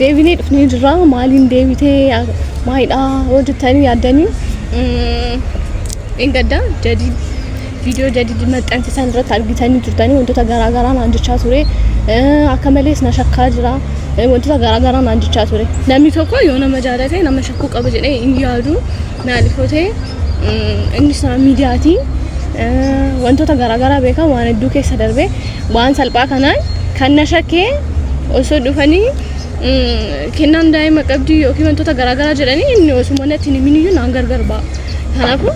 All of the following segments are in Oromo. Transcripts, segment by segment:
Deebinee dhufnee jirra. Maaliin deebitee maalidhaa yoo jettanii yaaddanii dheengadda jadid viidiyoo jadid maxxansisan irratti argitanii turtanii wantoota garaa garaa naan jechaa ture. Akka malees na shakkaa jira. Wantoota garaa garaa naan jechaa ture. Namni tokko yoo nama jaalate nama shakkuu qaba jedhee hin yaadu. Naali Fotee inni isaa miidiyaatiin wantoota garaagaraa beekaa waan hedduu keessa darbee waan salphaa kanaan kan na shakkee osoo dhufanii kennaan daa'ima qabdii yookiin wantoota garaagaraa jedhanii inni osuma natti hin himiniyyuu naan gargar ba'a. Kanaafuu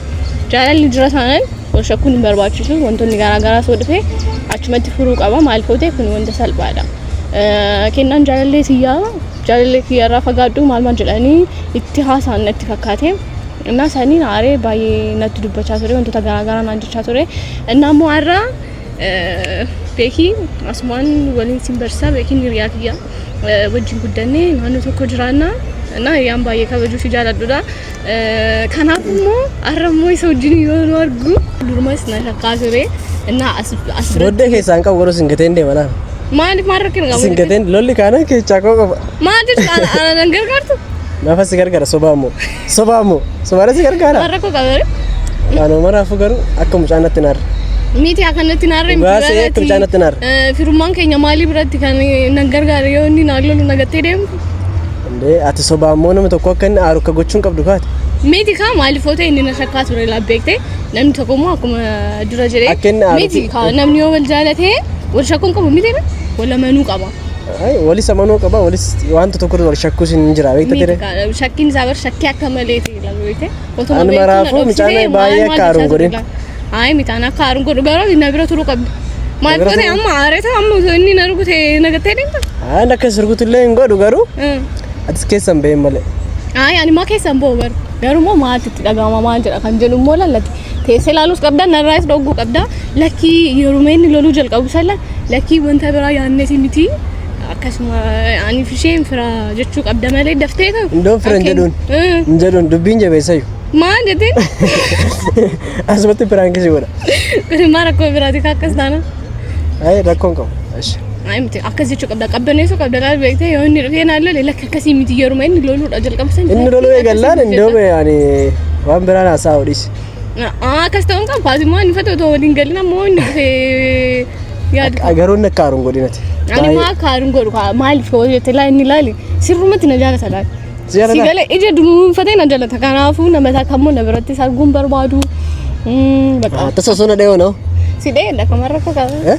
jaalalli jira taanaan wal shakkuun hin barbaachisu wantoonni garaagaraa osoo dhufee achumatti furuu qaba maal footee kun wanta salphaadha. Kennaan jaalallee siyyaa jaalallee kiyyarraa fagaadhu maal maal jedhanii itti haasa'an natti fakkaate. Innaa saniin aaree baay'ee natti dubbachaa ture wantoota garaagaraa naan jechaa ture. Innaa immoo har'a beekii asumaan waliin siin barsiisaa beekiin hiriyaa kiyya wajjin guddannee naannoo tokko jiraannaa. Innaa hiriyaan baay'ee kabajuu fi jaaladhudha. Kanaaf immoo har'a immoo isa wajjin yoo nu argu durumas na shakkaa ture. Innaa as as Booddee keessaan qabu garuu isin gateen deema laal. maaliif maal rakkina qabu? Isin gateen lolli kaanaan keessaa koo qofa. Maal jechuudha ana ana nan gargaartu? Nafa si gargaara sobaa immoo. Sobaa immoo. Sobaadha si gargaara. Waan rakkoo qabare? Waanuma maraafuu garuu akka mucaa natti naarra. Miti akkanatti naarra hin Dhugaa se'ee akka mucaa natti naarra. Firummaan keenya maalii biratti kan nan gargaare yoo inni naan lolu nagattee deemtu? Indee ati sobaan moo nama tokko akka inni aaru akka gochuun qabdu kaate. Miti kaa maalifoota inni na shakkaa ture laaf beekte namni tokko immoo akkuma dura jedhee Akka inni aaru- miti kaa namni yoo wal jaalate wal shakkuun qabu miti na wal amanuu qaba. Ay, walis amanuu qaba walis wanta tokko irra wal shakkuus hin jira beekta Miti ture. kaa shakkiin isaa bar shakkii akka maleeti laaf beekte. Otuma Anuma beektuu na raafuu dhoksitee mucaan maal baay'ee maal akka aaruun jechaa godhin. turte gaa? Ayi mitaan akka aaruun godhu garuu na bira turuu qabda. Maal bira godhe turuu? amma aareeta amma osoo inni na rukute na gattee deemta? Aan akka sirgutu illee hin godhu garuu Mm. atis keessa hin bahin malee. Ayi ani maa keessa hin ba'u bar. Garuu immoo maaltu itti dhaga'ama maal jedha kan jedhu immoo lallati. Teessee ilaaluus qabda narraas dhogguu qabda. Lakkii yeruma inni loluu jalqabu salla lakkii wanta biraa yaadneeti miti. Akkasuma aniif isheen fira jechuu qabda malee daftee kan. Indoon fira hin jedhuun. Hin jedhuun dubbiin jabeessayu. Maal jettee? Asumatti piraanki si godha. Kun maal rakkoo biraati kaa akkas taana? Ayi rakkoon qabu. Ashi. Ayi miti akkas jechuu qabda qabbaneessuu qabda laal beektee yoo inni dhufee naan lole lakki akkasii miti yeruma inni loluudha jalqabsan. Inni loluu eegallaan indoo ani waan biraan haasaa odhisi. Akkas ta'uun kan faasummaa inni fata otoo waliin galin ammoo inni dhufee yaadu. Agaroonni akka aaruun godhinati. Ani maa akka aaruun godhu kaa maaliif yoo jette laa inni laali sirrumatti na jaalata laali. Si jaalata? Si gala ija dunuunfatee na jaalata kanaafuu nama isaa kan immoo na biratti arguun barbaadu. Mm, Bakka Tasa osoo na dhayoo na'u. si dhee dhaqamarra akka Eh? qabu.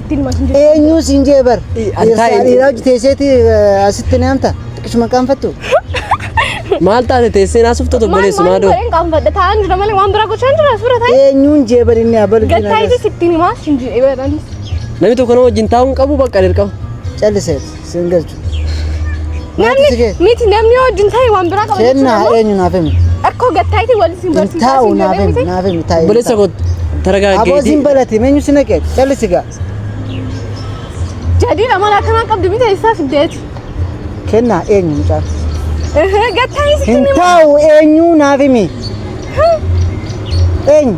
Ittiin masin jirtu. Eenyuu siin jee bar. Ii, an Dhiirsaa taa'e- dhiiraa hojii teesseeti eh, asitti ni hamta. Xiqqishuma qaanfattu. Maal taate teessee naasuuf tatu Maal obboleessu maal maadoo. godheen qaanfadha taa'an jira malee waan biraa gochaan jira suura taa'e. Eenyuun jee bar inni abal Gad taa'eetis ittiin himaa siin jedhee baran. Namni tokko nama wajjin taa'uun qabu bakka dirqama. Calliseet. Sin galchu. Namni Naati sigee. miti namni wajjin ta'e waan biraa qaba Kenna jechuudha. eenyu naaf himi. Akkoo gattaayitii wal isin Hin barsiisaa taa'u isin naaf jedhee himi miti. naaf himi taa'e. Obboleessa koo Aboo taragaaggeetii. sin balati meenyu sin haqeet callisi gaa. Jadiin amala akkanaa qabdi miti eessaa fiddeeti. Kenna eenyu mucaan. Gattaayitii Hin taa'u eenyu naaf himi. Eenyu.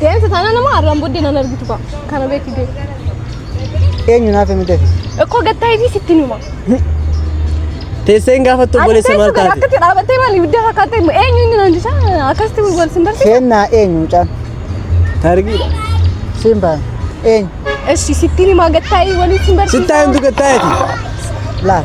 Deemsa taanaan immoo arraan booddee nan argitu kaa. Kana beeki deemu. Eenyu naaf himi deefi. Ikkoo gattaa ibis itti numa. Teessee hin gaafattu Ani obboleessa maal teessuma taate? akkatti dhaabattee maal ibidda fakkaattee immoo eenyu inni naan jisa akkasitti wal sin barsiisa. Keennaa eenyu mucaan? Taargiidha. Siin baana. Eenyu? Eshi sittiin himaa gattaa'ee waliin sin barsiisa. Sittaa himtu gattaa'eeti. Laal.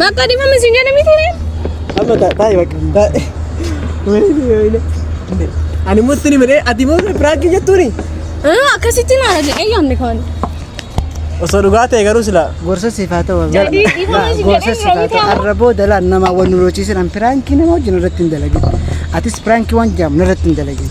Bakka dhimma misin jedhe miti ree. Amma taa'e bakka taa'e. Wayne wayne. Ani murti ni midhee ati moo piraakii jettuuni? Akkasitti naa jedhe eeyyaamni kaani. Osoo dhugaa ta'e garuu sila. Gorsa siif haa ta'u. Jadi, dhifama Laa, si Gorsa jedhee siif haa yeroo ta'u. ta'u. Arra booda laa nama wal nu loochiisan piraankii nama wajjin irratti hin dalagin. Atis piraankii waan jaamu irratti hin dalagin.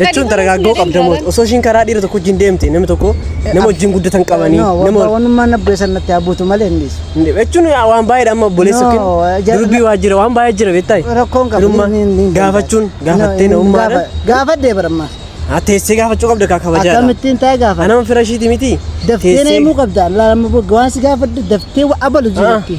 Jechuun dargaaggoo qabda moo osoo ishiin karaa dhiira tokko wajjin deemte namni tokko nama wajjin guddatan qabanii nama Wanummaan na bu'e sanatti haa buutu malee hin dhiisu. jechuun waan baay'eedha amma obboleessa No, yookiin jara- durbii waa jira waan baay'ee jira beektaa Rakkoon qabu. Firummaa ni- ni- ni- gaafachuun ni- gaafattee ni- namummaadha gaafa- Gaafadhee barammaa. haa teessee gaafachuu qabda kaa kabajaadha Akkamittiin taa'ee gaafa. anama fira ishiiti miti Daftee na himuu qabda. Laa- Waan si gaafadhu daftee wa- abalu jirutti.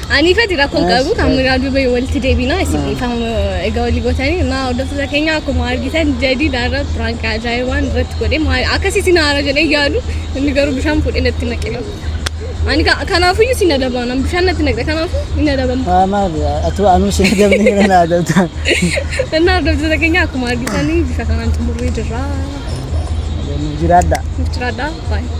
Ani fedhi rakkoon qabu kan miraa duubee walitti deebina isin kan egaa walii gootanii naa hordoftoota keenya akkuma argitan jadii daara piraank ajaa'ibaan irratti godhe maal akkas isin haara jedhee yaadu inni garuu bishaan fuudhee natti naqe ani kanaafuu iyyuu sin adaba nan bishaan natti naqe kanaafuu hin adabamu. Haa maal atuu anuu sin adabni gara naa adabta. Innaa hordoftoota keenya akkuma argitanii bifa kanaan xumurree jirra. Jiraadha. Jiraadha. Baay'ee.